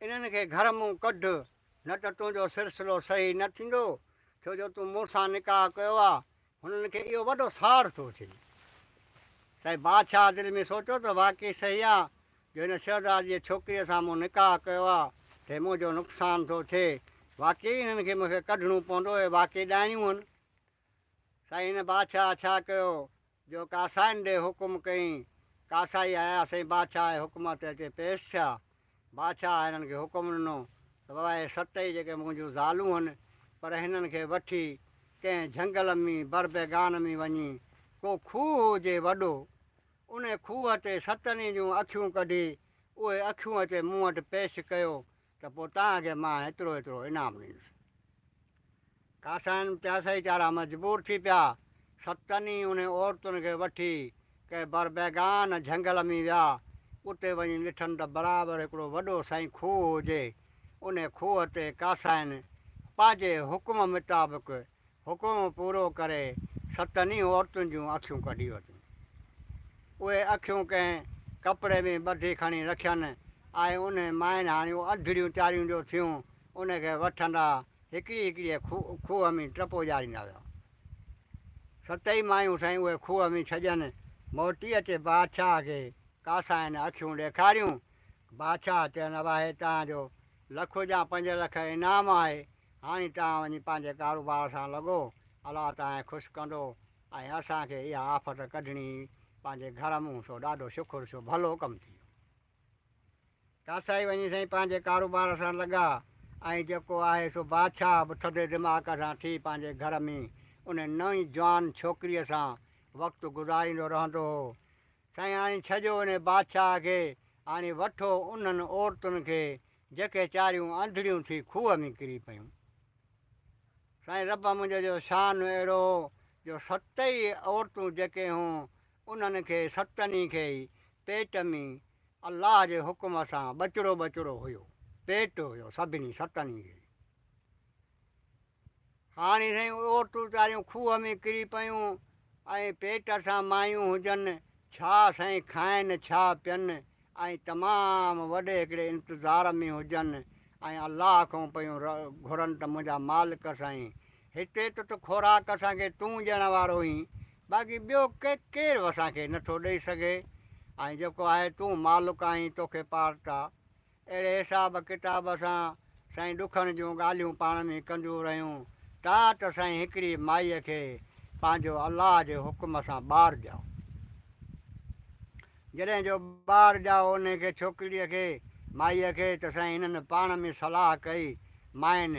انهن کي گهر مون ڪڍ، نه ته تنهنجو سرسلو صحيح نه ٿيندو، ڇو جو تون مون سان نڪاح ڪيو آ. هنن کي اهو وڏو ساڙ ٿو اچي ته بادشاهه دل ۾ سوچيو ته واقعي صحيح آ جو هن شهزادي جي ڇوڪريء سان مون نڪاح ڪيو آ ته منهنجو نقصان ٿو ٿئي. واقعي ئي هنن کي مون کي ڪڍڻو پوندو. اهي واقعي ڏائڻيون هن. سائين هن بادشاهه ڇا ڪيو جو ڪاسائين ڏي حڪم ڪئين؟ ڪاسائي آيا سائين بادشاهه جي حڪم تي اچي پيش ٿيا. بادشاهه هنن کي حڪم ڏنو ته بابا هي ست ئي جيڪي منهنجون زالون هن پر هنن کي وٺي ڪنهن جهنگل ۾ بربيگان ۾ وڃي ڪو کوهه هجي وڏو انهي کوهه تي ستن ئي جون اکيون ڪڍي اهي اکيون اچي مون وٽ پيش ڪيو ته پوء توهان کي مان ايترو ايترو انعام ڏيندس. قاسائن پياسائي چارا مجبور ٿي پيا. ستن ئي انهن عورتن کي وٺي ڪنهن بربيگان جهنگل ۾ ويا. اتي وڃي ڏٺن ته برابر هڪڙو وڏو سائين کوهه هجي. انهي کوهه تي قاسائن پنهنجي حڪم مطابق حڪم پورو ڪري ستن ئي عورتن جون اکيون ڪڍي ورتيون. اهي اکيون ڪنهن ڪپڙي ۾ ٻڌي کڻي رکين آء ان مائن هاڻيون اڌڙيون چاريون جو ٿيون ان کي وٺندا هڪڙي هڪڙيء کوهه ۾ ٽپو ڄاريندا ويا. ستئي مايون سائين اهي کوهه ۾ ڇڄن موٽي اچي بادشاهه کي ڪاسائن اکيون ڏيکاريون. بادشاهه چين اواهي تان جو لک جا پنج لک انعام آهي هاڻي توهان وڃي پنهنجي ڪاروبار سان لڳو الله توهان خوش ڪندو ۽ اسان کي اها آفت ڪڍڻي هئي پنهنجي گهر مون سو ڏاڍو شڪر ڇو ڀلو ڪم ٿي ويو ڪاسائي وڃي سائين پنهنجي ڪاروبار سان لڳا ۽ جيڪو آهي سو بادشاهه به ٿڌي دماغ سان ٿي پنهنجي گهر ۾ ان نئين جوان ڇوڪريء سان وقت گذاريندو رهندو هو سائين آڻي ڇڄو انهي بادشاهه کي، آڻي وٺو انهن عورتن کي جيڪي چاريون انڌڙيون ٿي کوهه ۾ ڪري پيون. سائين رب منهنجي جو شان اهڙو هو جو ست ئي عورتون جيڪي هون انهن کي ستني کي ئي پيٽ ۾ الله جي حڪم سان ٻچڙو ٻچڙو هيو پيٽ هيو سڀني ستني کي ئي هاڻي سائين عورتون ويچاريون کوهه ۾ ڪري پيون ۽ پيٽ سان مايون هجن ڇا سائين کائن ڇا پين ۽ تمام وڏي هڪڙي انتظار ۾ هجن ۽ الله کان پيون گهرن ته منهنجا مالڪ سائين هتي ته ته خوراڪ اسان کي تون ڏيڻ وارو آهين باقي ٻيو ڪي ڪير به اسان کي نٿو ڏئي سگهي ۽ جيڪو آهي تون مالڪ آهين توکي پارتا اهڙي حساب ڪتاب سان سائين ڏکن جون ڳالهيون پاڻ ۾ ڪنديون رهيون تا ته سائين هڪڙي مائيء کي پنهنجو الله جي حڪم سان ٻار ڄائو. جڏهن جو ٻار ڄائو انهي کي ڇوڪريء کي مائيء کي ته سائين انهن پاڻ ۾ صلاح ڪئي مائين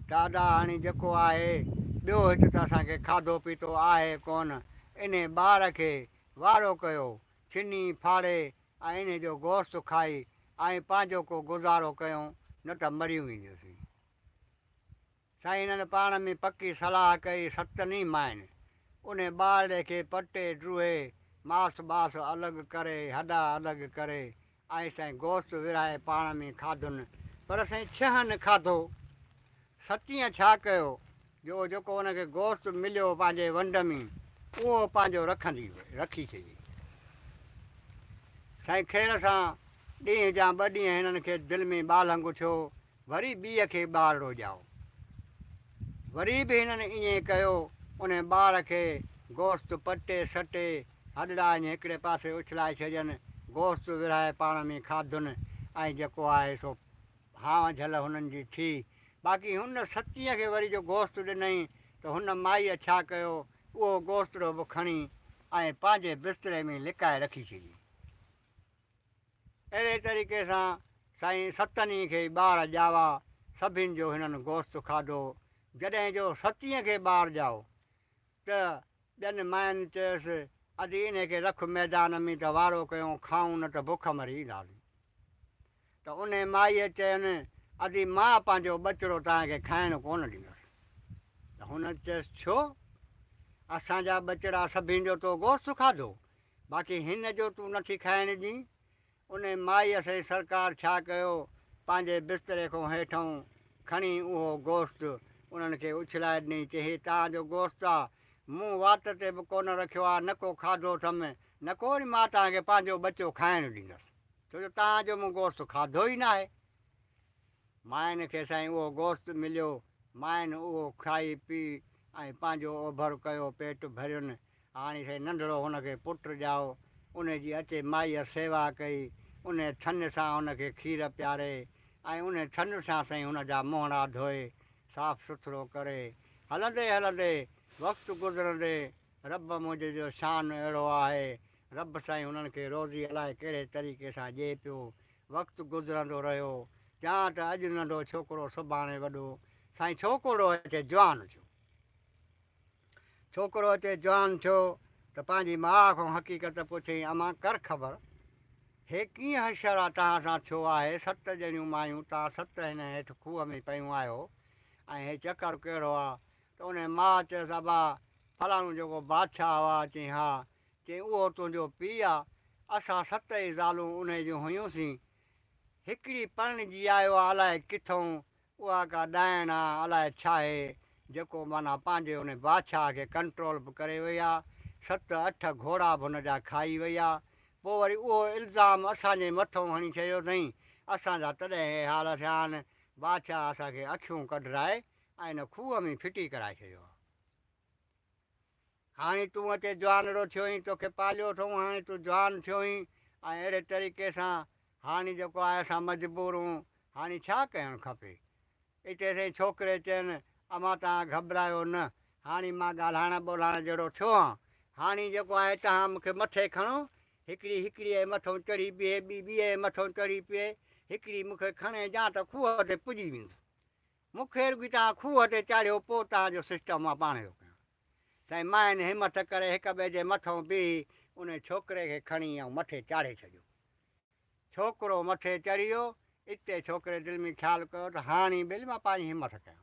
ته ادا هاڻي جيڪو آهي ٻيو هت ته اسان کي کاڌو پيتو آهي ڪونه انهي ٻار کي وارو ڪيو ڇني ڦاڙي انهيء جو گوشت کائي ۽ پنهنجو ڪو گذارو ڪيون نه ته مري وينديسين. سائين انهن پاڻ ۾ پڪي صلاح ڪئي ستن ئي ماين انهيء ٻارڙي کي پٽي ڊوهي ماس باس الڳ ڪري هڏا الڳ ڪري ۽ سائين گوشت ورهائي پاڻ ۾ کاڌن پر سائين ڇهن کاڌو ستينء ڇا ڪيو جو جيڪو ان کي گوشت مليو پنهنجي ونڊ ۾ اهو پنهنجو رکندي هئي رکي ڇڏي. سائين خير سان ڏينهن جا ٻه ڏينهن هنن کي دل ۾ ٻالهنگ اٿيو وري ٻيء کي ٻار ڏوڄائو. وري به هنن ائين ڪيو ان ٻار کي گوشت پٽي سٽي هڏڙا ائين هڪڙي پاسي اڇلائي ڇڏين گوشت ورهائي پاڻ ۾ کاڌن ۽ جيڪو آهي سو ها جھل هنن جي ٿي. باقي هن ستينء کي وري جو گوشت ڏنئين ته هن مائيء ڇا ڪيو، اهو گوشتڙو به کڻي ۽ پنهنجي بستري ۾ لڪائي رکي ڇڏيائين. اهڙي طريقي سان سائين ستن ئي کي ٻار ڄاوا، سڀن جو هنن گوشت کاڌو. جڏهن جو ستينء کي ٻار ڄائو ته ٻين ماين چيس، ادي انهي کي رک ميدان ۾ ته وارو ڪيون کائون نه ته بک مري اينداسين. ته انهي مائيء چين، ادي مان پنهنجو ٻچڙو توهان کي کائڻ ڪونه ڏيندس. ته هن چيس، ڇو؟ اسان جا ٻچڙا سڀني جو تو گوشت کاڌو، باقي هن جو تون نٿي کائڻ ڏين؟ انهيء مائيء سين سرڪار ڇا ڪيو، پنهنجي بستري کان هيٺئون کڻي اهو گوشت انهن کي اڇلائي ڏني چي هي توهان جو گوشت آ، مون وات تي به ڪونه رکيو آ، نه ڪو کاڌو اٿم، نه ڪو وري مان توهان کي پنهنجو ٻچو کائڻ ڏيندس، ڇو جو توهان جو مون گوشت کاڌو ئي ناهي. مائين کي سائين اهو گوشت مليو، مائين اهو کائي پي ۽ پنهنجو اوڀر ڪيو، پيٽ ڀرين، هاڻي سي ننڍڙو هن کي پٽ ڄائو، انهي جي اچي مائيء سيوا ڪئي، انهي ٿڃ سان هن کي کير پياري ۽ انهي ٿڃ سان سائين هن جا منهڙا ڌوئي، صاف سٿرو ڪري. هلندي هلندي، وقت گذرندي، رب منهنجي جو شان اهڙو آهي، رب سائين هنن کي روزي الائي ڪهڙي طريقي سان ڏئي پيو. وقت گذرندو رهيو، جهان ته اڄ ننڍو ڇوڪرو سڀاڻي وڏو، سائين ڇوڪرڙو اچي جوان ٿيو. ڇوڪرو اچي جوان ٿيو ته پنهنجي ماء کان حقيقت پڇيائين، اما ڪر خبر، هي ڪيئن حشر آ توهان سان ٿيو آهي، ست ڄڻيون مايون توهان ست هن هيٺ کوهه ۾ پيون آهيو ۽ هي چڪر ڪهڙو آ؟ ته انهيء ماء چيس، ابا، فلاڻو جيڪو بادشاهه هئا، چيائين، ها، چيائين، اهو تنهنجو پيء آ، اسان ست ئي زالون انهيء جون هيون سين، هڪڙي پرڻجي آيو آ الائي ڪٿئون، اها ڪا ڏائڻ آ الاء ڇاهي جيڪو معنيٰ پنهنجي ان بادشاهه کي ڪنٽرول به ڪري وئي آ ست اٺ گهوڙا به ان جا کائي وئي آ پوء وري اهو الزام اسان جي مٿئون هڻي چيو اٿئين اسان جا تڏهن هي حال ٿيا آهن بادشاهه اسان کي اکيون ڪڍرائي ۽ ان کوهه ۾ ڦٽي ڪرائي ڇڏيو آ. هاڻي تون اچي جوانڙو ٿيوئين توکي پاليو اٿئون هاڻي تون جوان ٿيوئين ۽ اهڙي طريقي سان هاڻي جيڪو آهي اسان مجبور هون هاڻي ڇا ڪيڻ کپي اتي سائين ڇوڪري چين امان توهان گهٻرايو نه هاڻي مان ڳالهائڻ ٻولهائڻ جهڙو ٿيو هان هاڻي جيڪو آهي توهان مون کي مٿي کڻو هڪڙي هڪڙيء جي مٿئون چڙهي بيهي ٻي ٻيء جي مٿئون چڙهي پيهي هڪڙي مون کي کڻي جا ته کوهه تي پڄي ويندو مون کي رڳي توهان کوهه تي چاڙهيو پوء توهان جو سسٽم مان پاڻهي ٿو ڪيان. سائين ماين همٿ ڪري هڪ ٻئي جي مٿئون بيهي انهي ڇوڪري کي کڻي ائون مٿي چاڙهي ڇڏيو. ڇوڪرو مٿي چڙهي ويو. اتي ڇوڪري دل ۾ خيال ڪيو ته هاڻي ٻيلي مان پاڻهي همٿ ڪيان.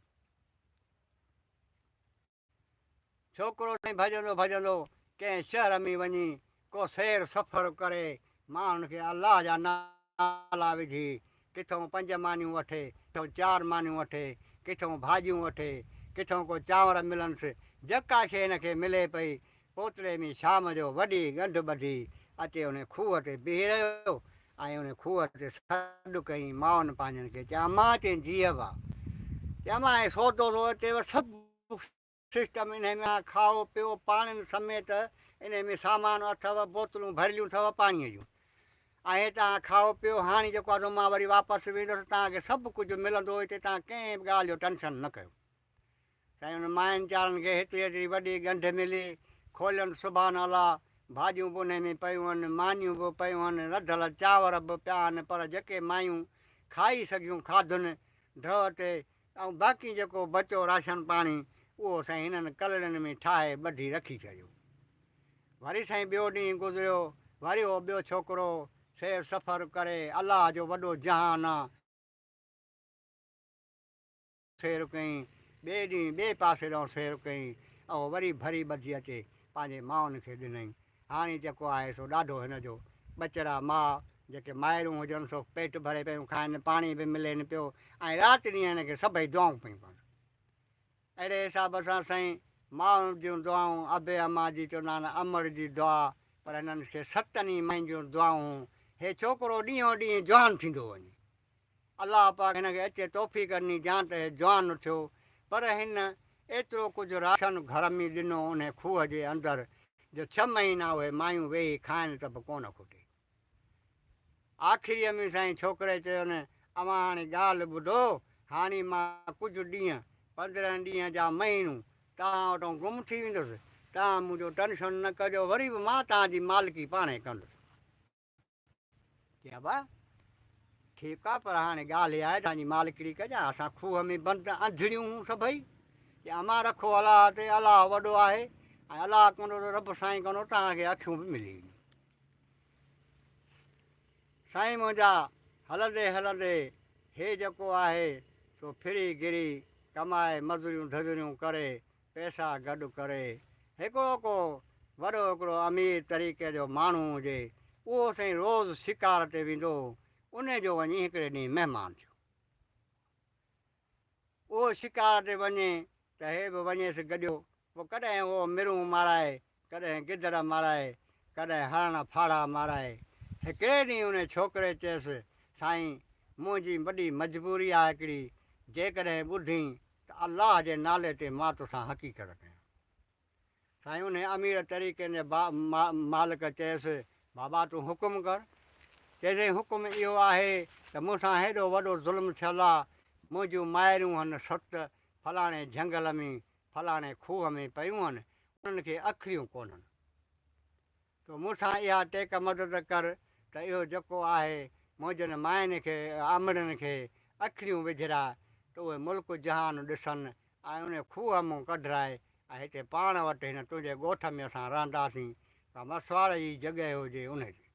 ڇوڪرو سائين ڀڄندو ڀڄندو ڪنهن شهر ۾ وڃي ڪو سير سفر ڪري ماڻهن کي الله جا نالا وجهي ڪٿئون پنج مانيون وٺي ڪٿئون چار مانيون وٺي ڪٿئون ڀاڄيون وٺي ڪٿئون ڪو چانور ملنس جڪا شي هن کي ملي پئي اوتري ۾ شام جو وڏي ڳنڍ ٻڌي اچي ان کوهه تي بيهي رهيو ۽ ان کوهه تي سڏ ڪيائين مائن پنهنجن کي چيائين امان چيائين جيء وا چيائين امان هي سودو ٿو اچي وا سڀ سسٽم انهي ۾ آهي کائو پيئو پاڻين سميت انهي ۾ سامان اٿو بوتلون ڀريليون اٿو پاڻي جون ۽ هي توهان کائو پيئو هاڻي جيڪو آندو مان وري واپس ويندس توهان کي سڀ ڪجهه ملندو هتي توهان ڪنهن به ڳالهه جو ٽينشن نه ڪيو سائين ان ماين چارن کي هيتري هيتري وڏي ڳنڍ ملي، کولين سبحان الله، ڀاڄيون به انهي ۾ پيون هن، مانيون به پيون هن، رڌل چانور به پيا هن پر جيڪي مايون کائي سگهيون کاڌن ڍؤ تي ۽ باقي جيڪو بچو راشن پاڻي اهو سائين هنن ڪلڙين ۾ ٺاهي ٻڌي رکي ڇڏيو. وري سائين ٻيو ڏينهن گذريو وري اهو ٻيو ڇوڪرو سير سفر ڪري الله جو وڏو جهان آ، سير ڪيئين، ٻئي ڏينهن ٻئي پاسي ڏانهن سير ڪيئين، اهو وري ڀري ٻڌجي اچي پنهنجي مائن کي ڏنائين. هاڻي جيڪو آهي سو ڏاڍو هن جو. ٻچڙا ماء جيڪي مائرون هجن سو پيٽ ڀري پيون کائين، پاڻي به ملين پيو ۽ رات ڏينهن هن کي سڀئي دعائون پيون ڪن. اهڙي حساب سان سائين مائن جون دعائون ابي اما جي چوندا آهن امڙ جي دعا پر هنن کي ستن ئي مائن جون دعائون هون. هي ڇوڪرو ڏينهون ڏينهن جوان ٿيندو وڃي. الله پاڪ هن کي اچي توفيق ڏني جيان ته هي جوان اٿيو پر هن ايترو ڪجهه راشن گهر ۾ ڏنو انهي کوهه جي اندر جو ڇهه مهينا اهي مايون ويهي کائن ته به ڪونه کوٽي. آخريء ۾ سائين ڇوڪري چيو نه اوهان هاڻي ڳالهه ٻڌو هاڻي مان ڪجهه ڏينهن، پندرهن ڏينهن جا مهينو توهان وٽان گم ٿي ويندس توهان منهنجو ٽنشن نه ڪجو وري به مان توهان جي مالڪي پاڻهي ڪندس. چيبا ٺيڪ آ پر هاڻي ڳالهه اها آهي ته انجي مالڪڙي ڪجا اسان کوهه ۾ بند انڌڙيون هون سڀئي جي امان رکو الله تي الله وڏو آهي ۽ الله ڪندو ته رب سائين ڪندو توهان کي اکيون به ملي وينديون سائين منهنجا هلندي هلندي هي جيڪو آهي سو ڦري گري ڪمائي مزوريون ڌزريون ڪري پئسا گڏ ڪري هڪڙو ڪو وڏو هڪڙو امير طريقي جو ماڻهو هجي، اهو سائين روز شڪار تي ويندو هو، انهي جو وڃي هڪڙي ڏينهن مهمان ٿيو. اهو شڪار تي وڃي ته هي به وڃيس گڏيو، پوء ڪڏهن اهو مرون مارائي ڪڏهن گدڙ مارائي، ڪڏهن هرڻ ڦاڙها مارائي. هڪڙي ڏينهن انهي ڇوڪري چيس، سائين! منهنجي وڏي مجبوري آ هڪڙي، جيڪڏهن ٻڌين ته الله جي نالي تي مان توسان حقيقت ڪيان. سائين انهي امير طريقين جي مالڪ چيس، بابا تون حڪم ڪر. چيسين، حڪم اهو آهي ته مون سان هيڏو وڏو ظلم ٿيل آ، منهنجون مائرون هن ست فلاڻي جهنگل ۾ فلاڻي کوهه ۾ پيون هن، انهن کي اکريون ڪونهن. تو مون سان اها ٽيڪ مدد ڪر ته اهو جڪو آهي منهنجن ماين کي آمڙن کي اکريون وجهراء ته اهي ملڪ جهان ڏسن ۽ انهي کوهه مون ڪڍراء ۽ هتي پاڻ وٽ هن تنهنجي ڳوٺ ۾ اسان رهنداسين ڪا مسواڙ جي جڳهه هجي انهي جي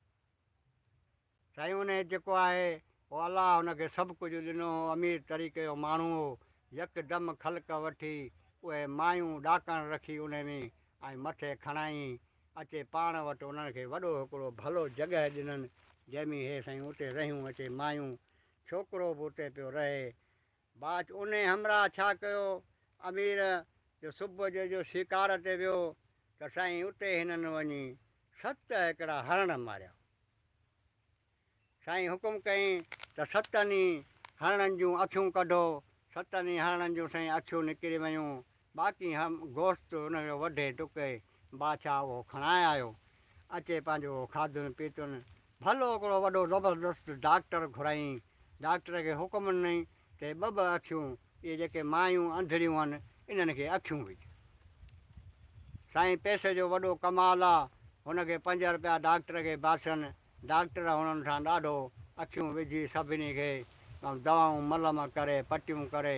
سائين ان هيت جيڪو آهي او الله هن کي سڀ ڪجهه ڏنو هو امير طريقي جو ماڻهو هو يڪدم خلق وٺي اهي مايون ڏاڪڻ رکي انهي ۾ ۽ مٿي کڻائين اچي پاڻ وٽ انهن کي وڏو هڪڙو ڀلو جڳهه ڏنن جنهن ۾ هي سائين اتي رهيون اچي مايون ڇوڪرو به اتي پيو رهي باچ انهي همراهه ڇا ڪيو امير جو صبح جو جو شڪار تي ويو ته سائين اتي هنن وڃي ست هڪڙا هرڻ ماريا. سائين حڪم ڪيائين ته ستن ئي هرڻن جون اکيون ڪڍو. ستن ئي هرڻن جون سائين اکيون نڪري ويون. باقي هم گوشت ان جو وڍي ٽڪي بادشاهه اهو کڻائي آيو. اچي پنهنجو اهو کاڌن پيتن. ڀلو هڪڙو وڏو زبردست ڊاڪٽر گهرائين. ڊاڪٽر کي حڪم ڏنائين تي ٻه ٻه اکيون، اهي جيڪي مايون انڌڙيون هن، انهن کي اکيون وجهه. سائين پئسي جو وڏو ڪمال آ، هن کي پنج رپيا ڊاڪٽر کي باسن، ڊاڪٽر هنن سان ڏاڍو، اکيون وجهي سڀني کي ٻئون دوائون ملم ڪري پٽيون ڪري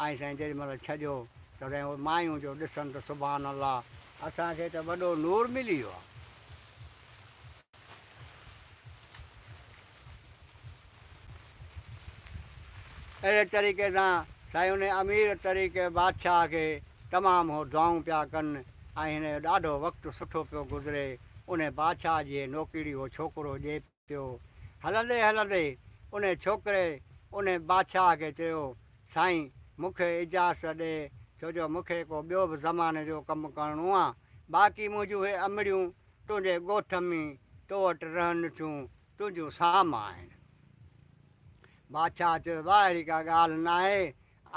۽ سائين جيڏي مهل ڇڄو ته سائين اهي مايون جو ڏسن ته سبحان الله اسان کي ته وڏو نور ملي ويو آ. اهڙي طريقي سان سائين انهي امير طريقي بادشاهه کي تمام هو دعائون پيا ڪن ۽ هن جو ڏاڍو وقت سٺو پيو گذري انهي بادشاهه جي هي نوڪيڙي هو ڇوڪرو ڄي پيو هلندي هلندي انهي ڇوڪري انهي بادشاهه کي چيو سائين مون کي اجازت ڏي ڇو جو مون کي ڪو ٻيو به زماني جو ڪم ڪرڻو آ باقي منهنجون هي امڙيون تنهنجي ڳوٺ ۾ تو وٽ رهن ٿيون، تنهنجون سام آهن. بادشاهه چيو، واهه اهڙي ڪا ڳالهه ناهي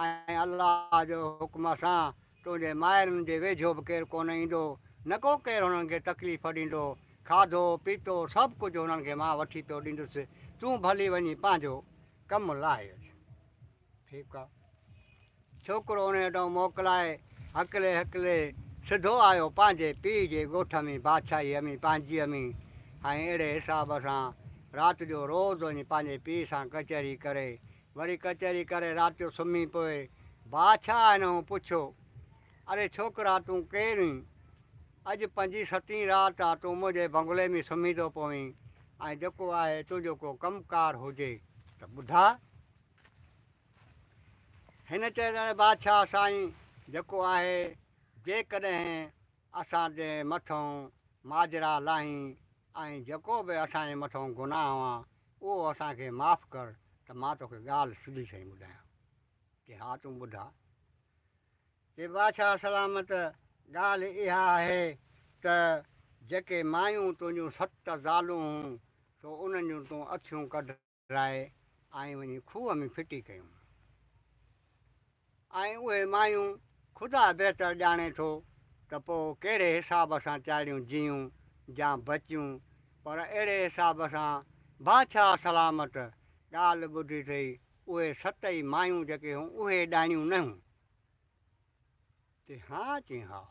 ۽ الله جو حڪم سان تنهنجي مائرن جي ويجهو به ڪير ڪونه ايندو، نه ڪو ڪير هنن کي تڪليف ڏيندو، کاڌو پيتو سڀ ڪجهه هنن کي مان وٺي پيو ڏيندس، تون ڀلي وڃي پنهنجو ڪم لاهي اچ. ٺيڪ آ. ڇوڪرو ان هيٺئون موڪلائي هڪلي هڪلي سڌو آيو پنهنجي پيء جي ڳوٺ ۾ بادشاهي امي پنهنجي امي ۽ اهڙي حساب سان رات جو روز وڃي پنهنجي پيء سان ڪچهري ڪري وري ڪچهري ڪري رات جو سمهي پوي بادشاهه انهون پڇيو اري ڇوڪرا تون ڪير هين اڄ پنجين ستين رات آ تون منهنجي بنگلي ۾ سمهي ٿو پوين ۽ جيڪو آهي تنهنجو ڪو ڪم ڪار هجي ته ٻڌاء هن چيو ته اي بادشاهه سائين جيڪو آهي جيڪڏهن اسان تي مٿئون ماجرا لاهين ۽ جيڪو به اسان جي مٿئون گناهه هئان اهو اسان کي معاف ڪر ته مان توکي ڳالهه سڌي سئي ٻڌايان. چي ها تون ٻڌاء. چي بادشاهه سلامت ڳالهه اها آهي ته جيڪي مايون تنهنجون ست زالون هون سو انهن جون تون اکيون ڪڍ. لاهي ۽ وڃي کوهه ۾ ڦٽي ڪيون ۽ اهي مايون خدا بهتر ڄاڻي ٿو ته پوء ڪهڙي حساب سان چاڙهيون جيون يا بچيون پر اهڙي حساب سان بادشاهه سلامت ڳالهه ٻڌي ٿئي اهي ست ئي مايون جيڪي هون اهي ڏائڻيون نه هون. تي ها چين ها.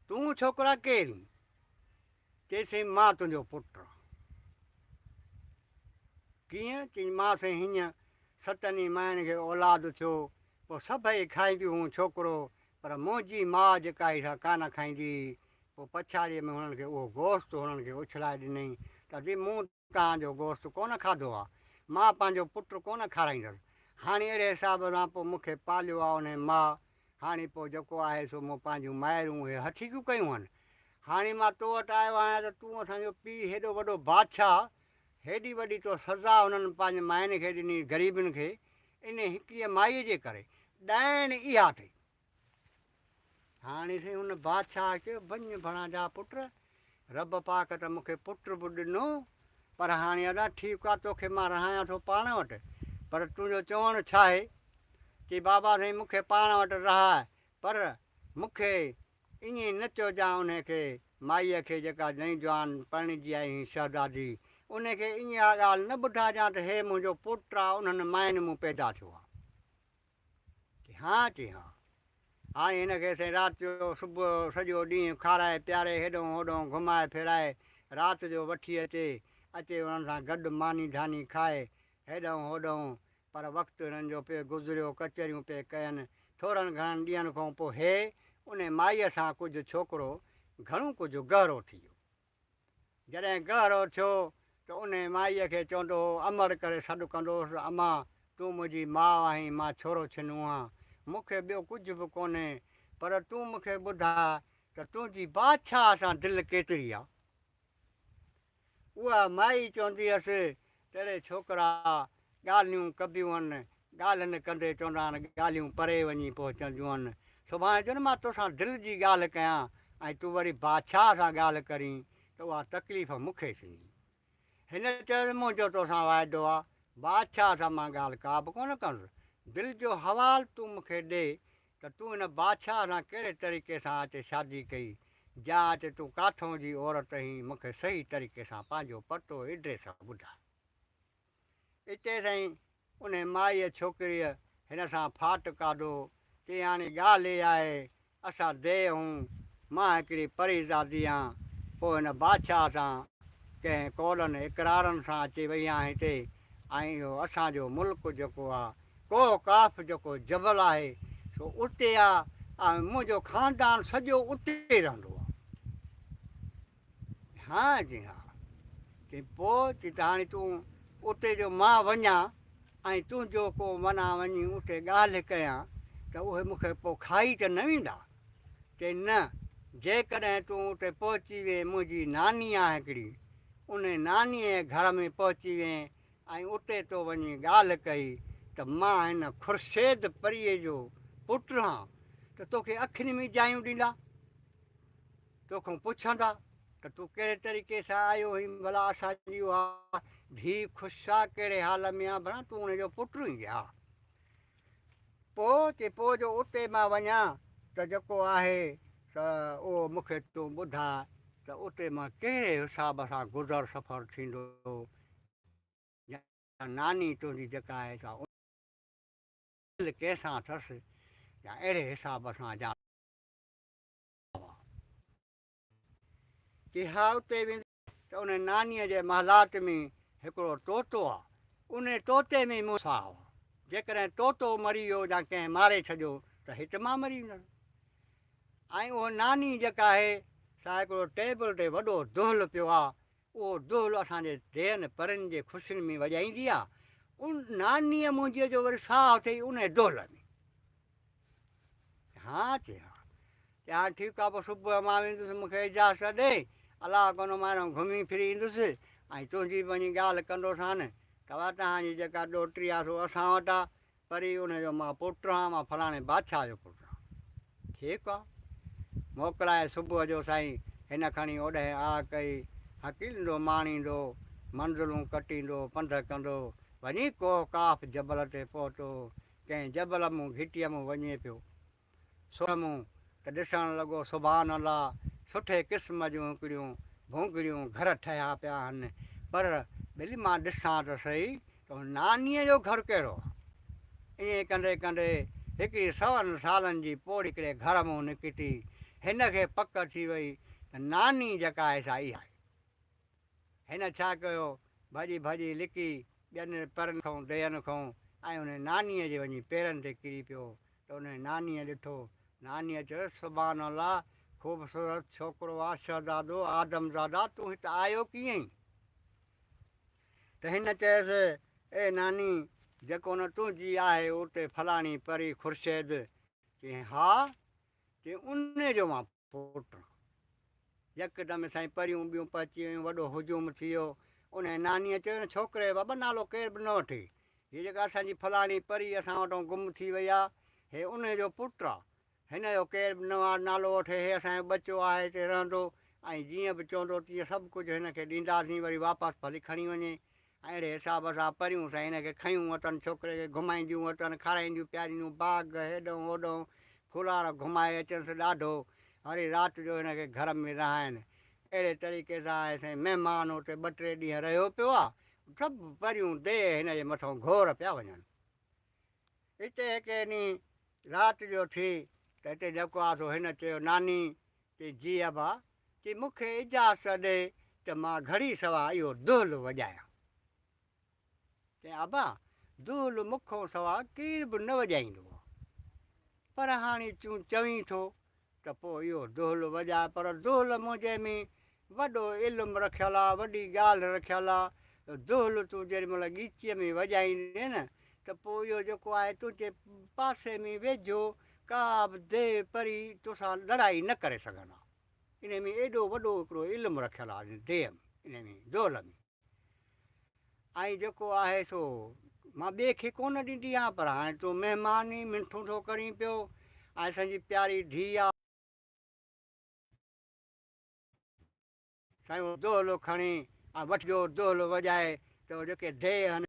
تون ڇوڪرا ڪير اين؟ چئي سائين مان تنهنجو پٽ آن. ڪيئن؟ چئي مان سائين هينئن ستن ئي مائڻ کي اولاد ٿيو پوء سڀئي کائينديون هون ڇوڪرو پر منهنجي ماء جيڪا هئي سا ڪانه کائيندي هئي پوء پڇاڙيء ۾ هنن کي اهو گوشت هنن کي اڇلائي ڏنئين ته مون توهان جو گوشت ڪونه کاڌو آ، مان پنهنجو پٽ ڪونه کارائيندس، هاڻي اهڙي حساب سان پوء مون کي پاليو آ انهيء ماء، هاڻي پوء جيڪو آهي سو مون پنهنجون مائرون اهي هٺيڪيون ڪيون هن، هاڻي مان تو وٽ آيو آهيان ته تون اسان جو پيء هيڏو وڏو بادشاهه، هيڏي وڏي تو سزا هنن پنهنجي مائين کي ڏني غريبن کي، انهيء هڪڙيء مائيء جي ڪري، ڏائڻ اها اٿئي. هاڻي سائين ان بادشاهه چيو بنهه ڀڻا جا پٽ رب پاڪ ته مونکي پٽ به ڏنو پر هاڻي ادا ٺيڪ آ توکي مان رهايان ٿو پاڻ وٽ پر تنهنجو چوڻ ڇا آهي چي بابا سائين مونکي پاڻ وٽ رهاء پر مونکي ائين نه چوجان ان کي مائيء کي جيڪا نئين جوان پرڻجي آئي هين شهزادي ان کي ائين اها ڳالهه نه ٻڌاجان ته هي منهنجو پٽ آ انهن ماين مون پيدا ٿيو آ. چي ها چي ها. هاڻي هن کي سائين رات جو صبح سڄو ڏينهن کارائي پياري هيڏهون هوڏهون گهمائي ڦيرائي رات جو وٺي اچي اچي انهن سان گڏ ماني ڌاني کائي هيڏهون هوڏهون پر وقت هنن جو پئي گذريو ڪچهريون پئي ڪين ٿورن گهڻن ڏينهن کون پو هي انهي مائي سان ڪجهه ڇوڪرو گهڻو ڪجهه گهرو ٿي ويو جڏهن ڳهرو ٿيو ته انهي مائيء کي چوندو هو، امڙ ڪري سڏ ڪندو هوس، امان! تون منهنجي ماء آهين، مان ڇورو ڇنو آهان، مون کي ٻيو ڪجهه به ڪونهي، پر تون مون کي ٻڌاء ته تنهنجي بادشاهه سان دل ڪيتري آ؟ اها مائي چوندي هيس تهڙي ڇوڪرا ڳالهيون ڪبيون ڳالهين ڪندي چوندا آهن ڳالهيون پري وڃي پهچنديون سڀاڻي جن مان توسان دل جي ڳالهه ڪيان ۽ تون وري بادشاهه سان ڳالهه ڪرين ته اها تڪليف مون کي ٿيندي هن چيس منهنجو توسان واعدو آهي بادشاهه سان مان ڳالهه ڪابه ڪونه ڪندس دل جو حوال تون مون کي ڏي ته تون هن بادشاهه سان ڪهڙي طريقي سان اچي شادي ڪئي جا اچي تون ڪاٿئون جي عورت هين مون کي صحيح طريقي سان پنهنجو پتو ايڊريس ٻڌاء اتي سائين انهي مائيء ڇوڪريء هن سان ڦاٽ کاڌو چيائين هاڻي ڳالهه هي آهي اسان ديء هون مان هڪڙي پري زادي هان پوء هن بادشاهه سان ڪنهن قولن اقرارن سان اچي وئي هان هتي ۽ اهو اسان جو ملڪ جيڪو آ ڪوهه قاف جيڪو جبل آهي سو اتي آ ۽ منهنجو خاندان سڄو اتي رهندو آ. ها چي ها. چي پو چي ته هاڻي تون اتي جو مان وڃان ۽ تنهنجو ڪو منا وڃي اتي ڳالهه ڪيان ته اهي مون کي پو کائي ته نه ويندا؟ چي نه جيڪڏهن تون اتي پهچي وين منهنجي ناني آ هڪڙي انهي نانيء جي گهر ۾ پهچي وين ۽ اتي تو وڃي ڳالهه ڪئي ته مان هن خورشيد پريء جو پٽ رهان ته توکي اکين ۾ جايون ڏيندا، توکان پڇندا ته تون ڪهڙي طريقي سان آيو هئين ڀلا اسان جي اها ڌيء خوش آ ڪهڙي حال ۾ آ ڀلا تون ان جو پٽ هئين جي ها پو چي پو جو اتي مان وڃان ته جيڪو آهي ته اهو مونکي تون ٻڌاء ته اتي مان ڪهڙي حساب سان گذر سفر ٿيندو يا ناني تنهنجي جيڪا آهي سا ان دل ڪنهن سان اٿس يا اهڙي حساب سان جا وان ڪي ها اتي ويندي ته ان ناني جي محلات ۾ هڪڙو طوطو آ ان طوطي ۾ مون ساهه آ جيڪڏهن طوطو مري ويو يا ڪنهن ماري ڇڏيو ته هت مان مري ويندس ۽ اهو ناني جيڪا آهي سا هڪڙو ٽيبل تي وڏو دهل پيو آ اهو دهل اسان جي دين پرين جي خوشين ۾ وڄائيندي آ. ان نانيء منهنجيء جو وري ساهه اٿئي انهيء دهل ۾. ها چي ها. چي ها ٺيڪ آ پوء صبح جو مان ويندس مون کي اجازت ڏي. الله ڪندو مان هيڏانهن گهمي ڦري ايندس ۽ تنهنجي به وڃي ڳالهه ڪندوسان. ڪواتهان جي جيڪا ڏوهٽي آ سو اسان وٽ آ. پري ان جو مان پٽ رھان، مان فلاڻي بادشاھه جو پٽ رھان. ٺيڪ آ. موڪلائي صبح جو سائين ھن کڻي اوڏهين آھ ڪئي، ھڪيلندو ماڻيندو، منزلون ڪٽيندو پنڌ ڪندو وڃي ڪوھ قاف جبل تي پهتو. ڪنھن جبل مون گھٽيء مون وڃي پيو. سو مون ته ڏسڻ لڳو سبحان الله سٺي قسم جون هڪڙيون ڀونگريون گهر ٺهيا پيا آهن پر ڀلي مان ڏسان ته سهي ته هن نانيء جو گهر ڪهڙو آهي. ائين ڪندي ڪندي هڪڙي سون سالن جي پوڙهي هڪڙي گهر مون نڪتي هن کي پڪ ٿي وئي ته ناني جيڪا آهي سا اها آهي. هن ڇا ڪيو ڀڄي ڀڄي لڪي ٻين پرن کان ديئن کان ۽ انهي نانيء جي وڃي پيرن تي ڪري پيو ته انهيء نانيء ڏٺو. نانيء چيس، سبحان الله! خوبصورت ڇوڪرو آ، شهزادو آدم زاده، تون هت آيو ڪيئن؟ ته هن چيس، اي ناني! جيڪو نه تنهنجي آهي اتي فلاڻي پري خورشيد؟ چيائين، ها! چيائين، انهيء جو مان پٽ. يڪدم سائين پريون ٻيون پهچي ويون، وڏو هجوم ٿي ويو. انهيء نانيء چيو، هن ڇوڪري جو بابا نالو ڪير به نه وٺي. هيء جيڪا اسان جي فلاڻي پري اسان وٽان گم ٿي وئي آ، هي انهيء جو پٽ آ. هن جو ڪير به نه نالو وٺي، هي اسان جو ٻچو آهي، هتي رهندو ۽ جيئن به چوندو تيئن سڀ ڪجهه هن کي ڏينداسين، وري واپس ڀلي کڻي وڃي. اهڙي حساب سان پريون سان هن کي کنيون اٿن، ڇوڪري کي گهمائينديون اٿن، کارائينديون پيارينديون، باغ هيڏهون هوڏهون ڦولار گهمائي اچنس ڏاڍو، وري رات جو هن کي گهر ۾ رهائين. اهڙي طريقي سان آهي سائين مهمان اتي ٻه ٽي ڏينهن رهيو پيو آ، سڀ پريون ديء هن جي مٿئون گهور پيا وڃن. اتي هڪ ڏينهن رات جو ٿي ته اتي جيڪو آ سو هن چيو ناني چي جي ابا تي مون کي اجازت ڏي ته مان گهڙي سوا اهو دهل وڄايان. چيائين، ابا! دهل مون کان سوا ڪير به نه وڄائيندو آهي. پر هاڻي تون چوين ٿو ته پوء اهو دهل وڄاء. پر دهل منهنجي ۾ وڏو علم رکيل آهي، وڏي ڳالهه رکيل آهي. دهل تون جيڏي مهل ڳيچيء ۾ وڄائيندين ته پوء اهو جيڪو آهي تنهنجي پاسي ۾ ويجهو ڪا به ديو پري تو سان لڙائي نه ڪري سگهندا. انهي ۾ ايڏو وڏو هڪڙو علم رکيل آ ان ديو ۾ انهي ۾ دول ۾. ۽ جيڪو آهي سو مان ٻئي کي ڪونه ڏيندي آهيان پر هاڻي تون مهمان هين منٺون ٿو ڪرين پيو ۽ اسان جي پياري ڌيء آ. سائين اهو دولو کڻي ۽ وٺجو دولو وڄائي ته اهو جيڪي ديو هين.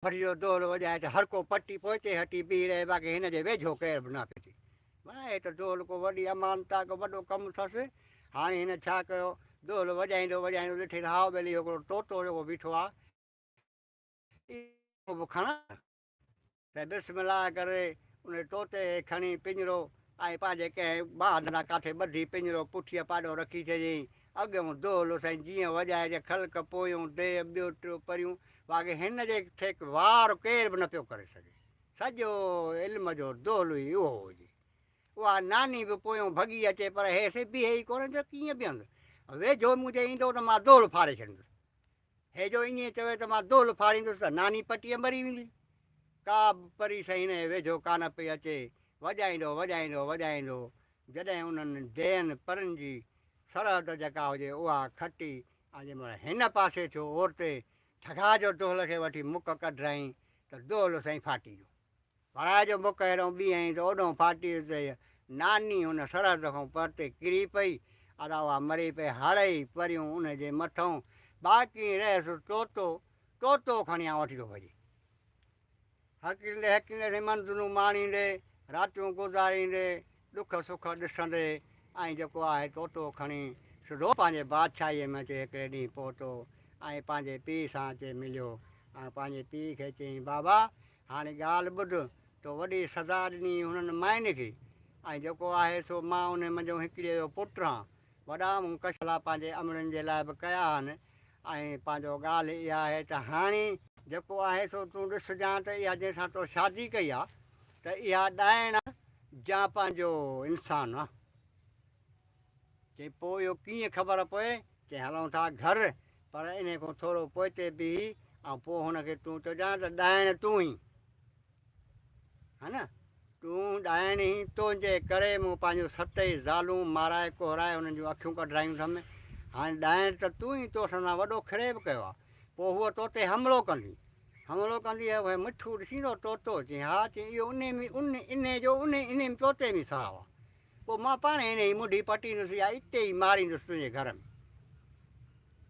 ڦڙ جو دول وڄائي ته هر ڪو پٽي پوئتي هٽي بيهي رهي باقي هن جي ويجهو ڪير به نه پيتي معنيٰ هي ته دول ڪو وڏي امانت آهي ڪو وڏو ڪم اٿس هاڻي هن ڇا ڪيو دول وڄائيندو وڄائيندو ڏٺي ته هائو ٻيلي هڪڙو طوطو جيڪو بيٺو آهي اهو به کڻان ته بسم الله ڪري ان طوطي کي کڻي پڃرو ۽ پنهنجي ڪنهن باهه ڏانهن ڪاٿي ٻڌي پڃرو پٺيء پاڏو رکي ڇڏيائين اڳيون دولو سائين جيئن وڄائي جا خلق پويون ديء ٻيو ٽيو پريون باقي هن جي ٺيڪ وار ڪير به نه پيو ڪري سگهي سڄو علم جو دولو ئي اهو هجي اها ناني به پويون ڀڳي اچي پر هي سي بيهي ئي ڪونه ته ڪيئن بيهندو ويجهو منهنجي ايندو ته مان دول ڦاڙي ڇڏيندس هي جو ائين چوي ته مان دول ڦاڙيندس ته ناني پٽيء مري ويندي ڪا به پري سائين هن جي ويجهو ڪانه پئي اچي وڄائيندو وڄائيندو وڄائيندو جڏهن انهن ديهن پرن جي سرحد جيڪا هجي اها کٽي ۽ جنهن مهل هن پاسي ٿيو اورتي ٺڳا جو دهل کي وٺي مک ڪڍرائين ته دهل سائين ڦاٽي ويو. ڀرائي جو مک هيڏهون ٻيهائين ته اوڏهون ڦاٽي ويو ته هيء ناني هن سرحد کان پرتي ڪري پئي ادا اها مري پئي هڙئي پريون ان جي مٿئون باقين رهيس طوطو طوطو کڻي آئون وٺي ٿو ڀڄي. هڪيندي هڪيندي رمن دنون ماڻيندي راتيون گذاريندي ڏک سک ڏسندي ۽ جيڪو آهي طوطو کڻي سڌو پنهنجي بادشاهيء ۾ اچي هڪڙي ڏينهن پهتو ۽ پنهنجي پيء سان اچي مليو ۽ پنهنجي پيء کي چيائين بابا هاڻي ڳالهه ٻڌ تو وڏي سزا ڏني هنن مائين کي ۽ جيڪو آهي سو مان انهي منجهو هڪڙيء جو پٽ رهان وڏا مون ڪشلا پنهنجي امڙن جي لاء به ڪيا آهن ۽ پنهنجو ڳالهه اها آهي ته هاڻي جيڪو آهي سو تون ڏس جان ته اها جنهن سان تو شادي ڪئي آ ته اها ڏائڻ آ جا پنهنجو انسان آ؟ چئي پوء اهو ڪيئن خبر پوي؟ چئي هلون ٿا گهر پر انهي کون ٿورو پوئتي بيهي ۽ پوء هن کي تون چئجان ته ڏائڻ تون ئي ها نه! تون ڏائڻي، تنهنجي ڪري مون پنهنجون ست ئي زالون مارائي ڪهرائي انهن جون اکيون ڪڍرايون اٿم. هاڻي ڏائڻ ته تون ئي تو سندان وڏو خريب ڪيو آهي. پوء هوء تو تي حملو ڪندي. حملو ڪندي هيء مٺو ڏسيندو طوطو؟ چيائين، ها، چيائين، اهو انهي جو انهي انهي طوطي ۾ ساهه آهي. پوء مان پاڻ هي انهي منڍي پٽيندس يا اتي ئي ماريندس تنهنجي گهر ۾.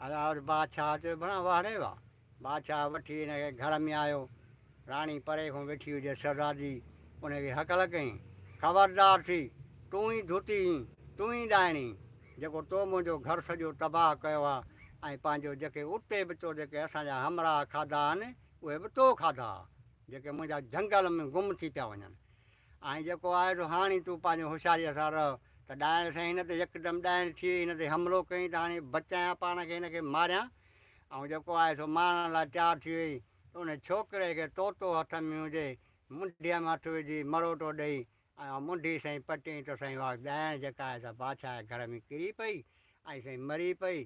ادا بادشاهه چيو، ڀڻا واهڙي واهه! بادشاهه وٺي ان کي گهر ۾ آيو. راڻي پري کان ويٺي هجيس. شهزادي ان کي هڪل ڪيائين، خبردار ٿي، تون ئي ڌوتي هين، تون ئي ڏائڻي هين، جيڪو تو منهنجو گهر سڄو تباهه ڪيو آ ۽ پنهنجو جيڪي اتي به تو جيڪي اسان جا همراهه کاڌا آهن، اهي به تو کاڌا آ، جيڪي منهنجا جهنگل ۾ گم ٿي پيا وڃن. آئين جيڪو آهي سو هاڻي تون پنهنجي هوشياريء سان رهه ته ڏائڻ سائين هن تي يڪدم ڏائڻ ٿئي، هن تي حملو ڪيائين ته هاڻي بچايان پاڻ کي هن کي ماريان، آئون جيڪو آهي سو مارڻ لاء تيار ٿي ويئي ته انهي ڇوڪري کي طوطو هٿ ۾ هجي، منڍيء ۾ هٿ وجهي مروٽو ڏئي ۽ اها منڍي سائين پٽيئين ته سائين اها ڳائڻ جيڪا آهي سا بادشاهه جي گهر ۾ ڪري پئي ۽ سائين مري پئي.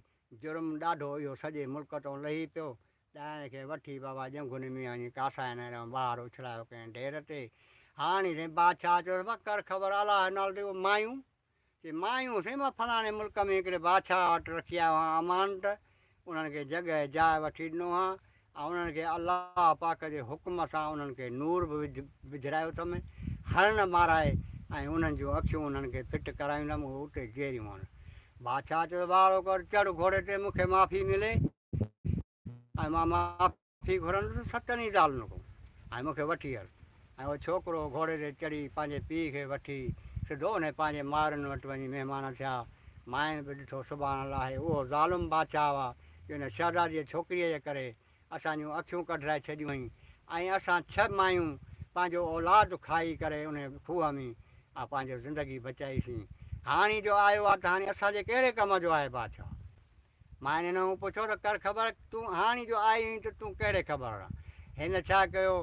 جرم ڏاڍو اهو سڄي ملڪ تئون لهي پيو. ڏائڻ کي وٺي بابا ڄنگهوني ميان جي ڪاسائن ۽ رئون ٻاهر اڇلايو ڪنهن ڍير تي. هاڻي سائين بادشاهه چيس، وڪر خبر الاهه نالدي اهو مايون. چي مايون هوسين مان فلاڻي ملڪ ۾ هڪڙي بادشاهه وٽ رکي آيو هان امانت، انهن کي جڳهه ۽ جاء وٺي ڏنو هان ۽ انهن کي الله پاڪ جي حڪم سان انهن کي نور به وجھرايو اٿم، هرڻ مارائي ۽ انهن جون اکيون انهن کي ڦٽ ڪرايوندم اهي اتي جيئريون هن. بادشاهه چيو ته ٻاڙو ڪر چڙهه گھوڙي تي مون کي معافي ملي. ۽ مان معافي گهرندس ستن ئي زالن کان ۽ مون کي وٺي هل. ۽ اهو ڇوڪرو گهوڙي تي چڙهي پنهنجي پيء کي وٺي سڌو انهي پنهنجي مائرن وٽ وڃي مهمان ٿيا. مائن به ڏٺو سبحان الله هي اهو ظالم بادشاهه آ جو ان شهزاديء ڇوڪريء جي ڪري اسان جون اکيون ڪڍرائي ڇڏيون هئين ۽ اسان ڇهه مايون پنهنجو اولاد کائي ڪري انهي کوهه ۾ آ پنهنجو زندگي بچائي سين. هاڻي جو آيو آ ته هاڻي اسان جي ڪهڙي ڪم جو آهي بادشاهه؟ ماين هن کان پڇيو ته ڪر خبر تون هاڻي جو آئي هئين ته تون ڪهڙي خبر هڻان؟ هن ڇا ڪيو؟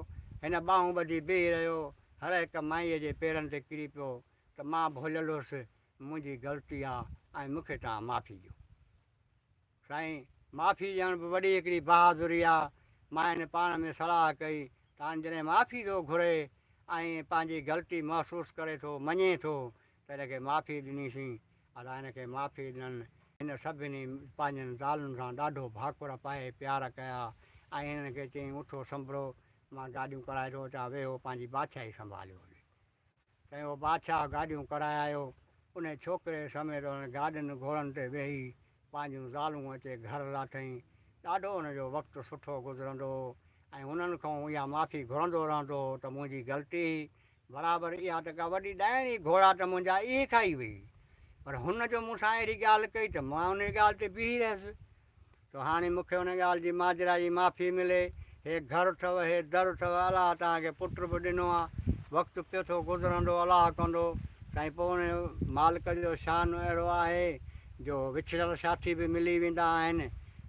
هن ٻانهون ٻڌي بيهي رهيو. هر هڪ مائيء جي پيرن تي ڪري پيو ته مان ڀوليل هوس، منهنجي غلطي آ ۽ مون کي توهان معافي ڏيو. سائين، معافي ڏيڻ به وڏي هڪڙي بهادري آ. ماين پاڻ ۾ صلاح ڪئي ته هاڻي جڏهن معافي ٿو گهري ۽ پنهنجي غلطي محسوس ڪري ٿو، مڃي ٿو، ته هن کي معافي ڏنيسين، ادا هن کي معافي ڏنن. هن سڀني پنهنجن زالن سان ڏاڍو ڀاڪر پائي پيار ڪيا ۽ هنن کي چيائين اٿو سنڀرو، مان گاڏيون ڪرائي ٿو اچان، ويهو پنهنجي بادشاهي سنڀاليو هلي. تنهن اهو بادشاهه گاڏيون ڪرائي آيو، انهي ڇوڪري سميت هن گاڏين گهوڙن تي ويهي پنهنجون زالون اچي گهر لاٿائين. ڏاڍو ان جو وقت سٺو گذرندو هو ۽ انهن کانئون اها معافي گهرندو رهندو هو ته منهنجي غلطي هئي، برابر اها ته ڪا وڏي ڏائڻ ئي گهوڙا ته منهنجا اهي کائي ويئي. پر هن جو مون سان اهڙي ڳالهه ڪئي ته مان انهيء ڳالهه تي بيهي رهيس. سو هاڻي مون کي ان ڳالهه جي ماجرا جي معافي ملي هي گهر اٿو، هي در اٿو، الله توهان کي پٽ به ڏنو آ، وقت پيو ٿو گذرندو، الله ڪندو، سائين پوء ان مالڪ جو شان اهڙو آهي جو وڇڙيل ساٿي به ملي ويندا آهن،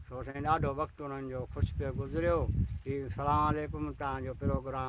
سو سائين ڏاڍو وقت انهن جو خوش پيو گذريو، هي سلام عليڪم توهان جو پروگرام.